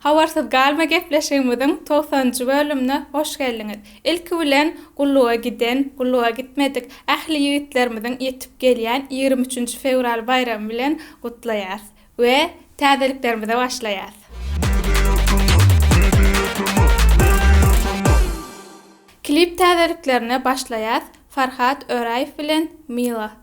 Habarsyz galma gepleşigimiziň togsan njy bölümine hoş geldiňiz. Ilki bilen gulluga giden, gulluga gitmedik ähli ýigitlerimiziň ýetip gelýän ýigrimi üçünji fewral baýramy bilen gutlaýarys we täzeliklerimize başlaýarys. Klip täzeliklerine başlaýarys Farhat Öraýew bilen Mila.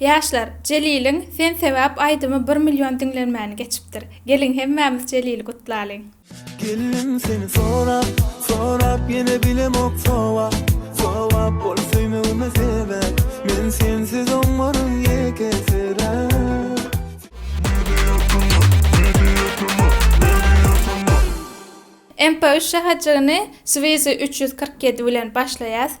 Ýaşlar, Jeliliň Sen sebäp aýdymy bir million diňlenmäni geçipdir. Geliň hemmämiz Jelili gutlalyň. Geldim seni sorap, sorap ýene bilemok sowap, sowap bol söýmegime sebäp, men sensiz oňaryn ýekesirap. MP üç şäherjigyny Swizy üç ýüz kyrk ýedi bilen başlaýas.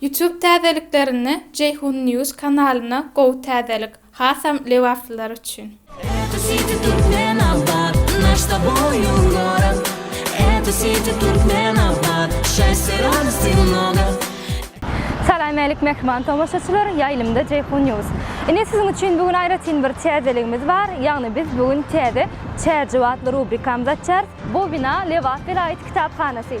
Youtube täzeliklerinde Jeýhun News kanalyna gowy täzelik, hasam lebaplylar üçin. Eto siti Türkmen abat naş s toboyu gorod Eto siti Türkmen abat şassy radosti mnogo. Salamelik mähriban tomaşaçylar, ýaýlymda Jeýhun News. Ine siziň üçin bu gün aýratyn bir täzeligimiz bar, ýagny biz bu gün täze Çärjew atly rubrikamyzy açýarys, bu bina Lebap welaýat kitaphanasy.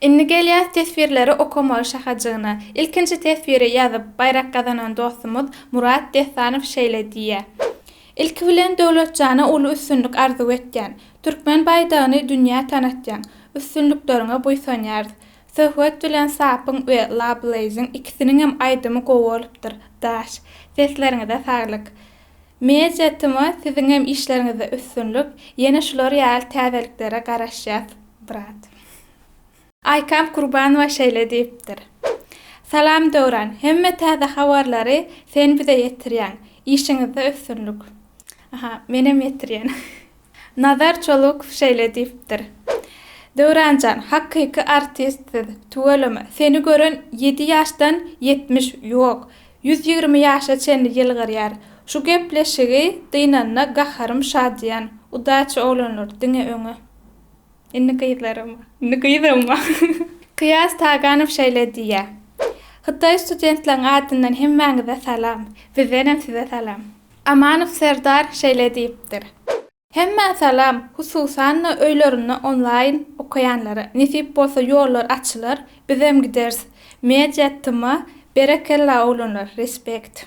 Indi gelýäs teswirleri okamaga şahajygyna. Ilkinji teswiri ýazyp, baýrak gazanan dostumyz Murat Dessanow şeýle diýýär, Ilki bilen Döwletjana uly üstünlik arzuw etýän. Türkmen baýdagyny dünýä tanatýaň. Üstünlikleriňe buýsanýarys. Söhbet bilen Sapyň we La Blaze-iň ikisiniňem aýdymy gowy bolupdyr. Daş. Sesleriňize saglyk. Media Timo siziňem işleriňizde üstünlik, ýene şular ýaly täzeliklere garaşýas brat. Aýkam Kurbanowa şeýle diýipdir. Salam Döwran, hemme täze habarlary sen bize ýetirýäň, işiňizde üstünlik. Aha, menem ýetirýän. Nazar Çolukow şeýle diýipdir, Döwran jan, hakyky artist siz, tüweleme, seni gören ýedi ýaşdan ýetmiş, ýok, ýüz ýigrimi ýaşa çenli ýylgyrýar. Şu gepleşigi dynanda gaharym şadyýan. Udaçi oglanlar, diňe öňe! Indi gyzlaryma. Indi gyzyma. Kyýas Taganow şeýle diýýär, Hytaý studentleriň adyndan hemmäňize salam. Bizdenem size salam. Amanow Serdar şeýle diýipdir, Hemmä salam, hususan-da öýlerinde onlaýn okaýanlara. Nesip bolsa ýollar açylar, bizem gideris. Media tma, berekella oglanlar, respekt.